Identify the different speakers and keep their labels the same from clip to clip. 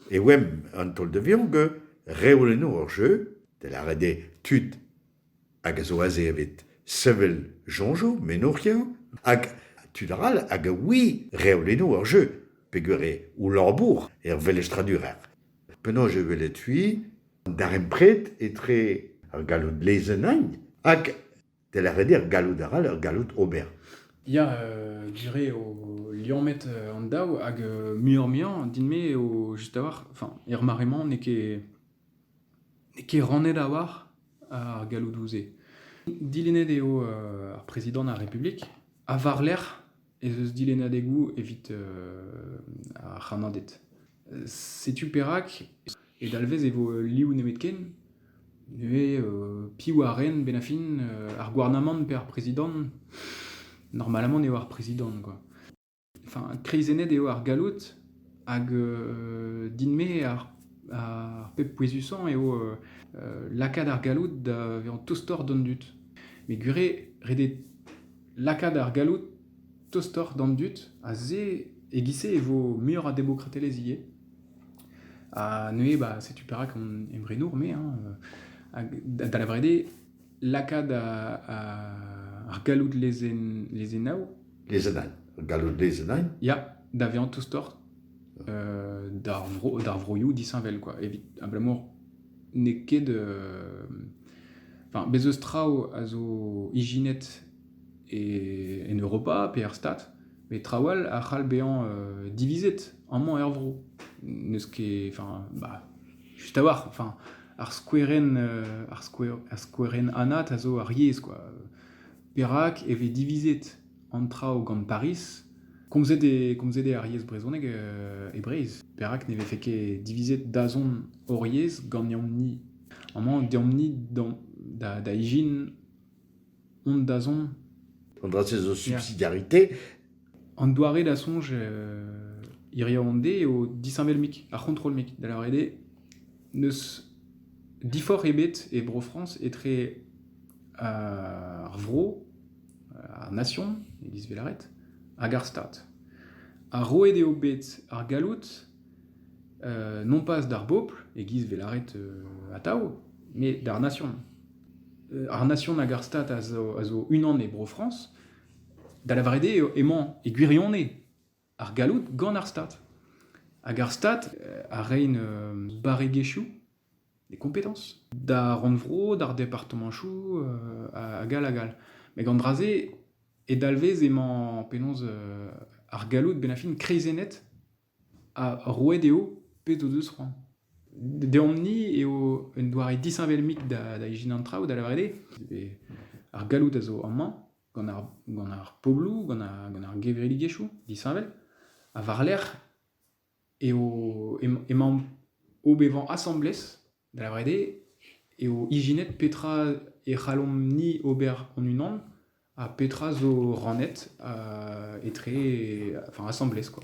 Speaker 1: E oamp an taol da vezañ que reoù enno hor jeu, da lâret eo tud hag a zo aze evit sevel soñjoù, mennourioù, hag tud arall hag a oui reoù enno hor jeu peger eo o labour er velestradurezh. Penaos e welet-c'hwi an darempred etre ar galloud lezenn-eñ hag Tel a reder galloud arall ur galloud ober. Ya,
Speaker 2: dire eo liammet an daou hag muioc'h-muiañ din-me eo just a-walc'h, enfin er mare-mañ n'eo ket n'eo ket rannet a-walc'h ar galloudoù-se. Dilennet eo ar prezidant ar Republik ha war-lerc'h ez eus dilennadegoù evit ar c'hannaded. Setu perak e dalvez e vo liv nemetken. Neuze piv a ren bennañ-fin ar gouarnamant pe ar prezidant? Normalement eo ar prezidant quoi. Enfin, kreizennet eo ar galloud hag din-me ar ar pep pouezusañ eo lakaat ar galloud da vezañ tostoc'h d'an dud. Met gwir eo, ret eo lakaat ar galloud tostoc'h d'an dud, ha se, e-giz-se e vo muioc'h a demokratelezh ivez. Ha neuze, bah, setu perak on emrenour, me, hein, hag da lavaret eo, lakaat ar galloud lezennañ. Lezennañ,
Speaker 1: galloud lezennañ? Ya, da vezañ
Speaker 2: tostoc'h d'ar vro, d'ar vroioù disheñvel, quoi, evit abalamour n'eo ket... Enfin, bez' eus traoù a zo ijinet en Europa pe er Stad, met traoù all a c'hall bezañ divizet amañ er vro. N'eus ket... Enfin, bah, just a-walc'h. Enfin, ar skouerenn ar skouerenn anat a zo ar yezh, quoi. Perak e vez divizet an traoù gant Pariz, komzet eo, komzet eo ar yezh brezhonek e Breizh. Perak ne vefe ket divizet dazont hor yezh ganeomp-ni? Amañ, deomp-ni da, da ijin hon dazont. An dra-se zo
Speaker 1: subsidiarité. An
Speaker 2: doare da soñj euh, hiriv-an-de eo disheñvel-mik, ar c'hontrol-mik. Da lavaret eo, n'eus diforc'h ebet e Bro-Frañs etre ar vro ar Nasion, e-giz Velaret, hag ar Stad. Ha roet eo bet ar galloud euh, non pas d'ar bopl, e-giz Velaret euh, atav, mais d'ar Nasion. Euh, ar Nasion hag ar Stad a zo, a zo unan e Bro-France, da lavaret eo emañ e gwirionez ar galloud gant ar Stad. Hag ar Stad a rein barregezhioù, des compétences, d'ar rannvro, d'ar departamanchoù, hag all hag all. Met gant dra-se, e dalvez emañ penaos ar galloud benn ar fin kreizennet ha roet eo pezh o deus c'hoant. Deomp-ni eo un doare disheñvel-mik da ijinañ an traoù, da lavaret eo ar galloud a zo amañ, gant ar pobloù, gant ar gevredigezhioù disheñvel. Ha war-lerc'h emaomp o bevañ asambles, da lavaret eo, eo ijinet petra e c'hallomp-ni ober hon-unan ha petra zo rannet etre, enfin asambles quoi.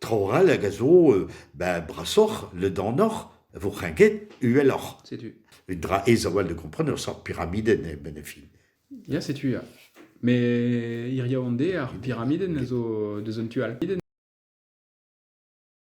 Speaker 1: Traoù
Speaker 2: all hag a
Speaker 1: zo ben brasoc'h ledanoc'h e vo kreñket uheloc'h. Setu. Un dra
Speaker 2: aes a-walc'h
Speaker 1: da gompren ur seurt piramidenn eo benn ar fin. Ya, setu
Speaker 2: ya. Mais hiziv an deiz, ar piramidenn a zo deus un tu all.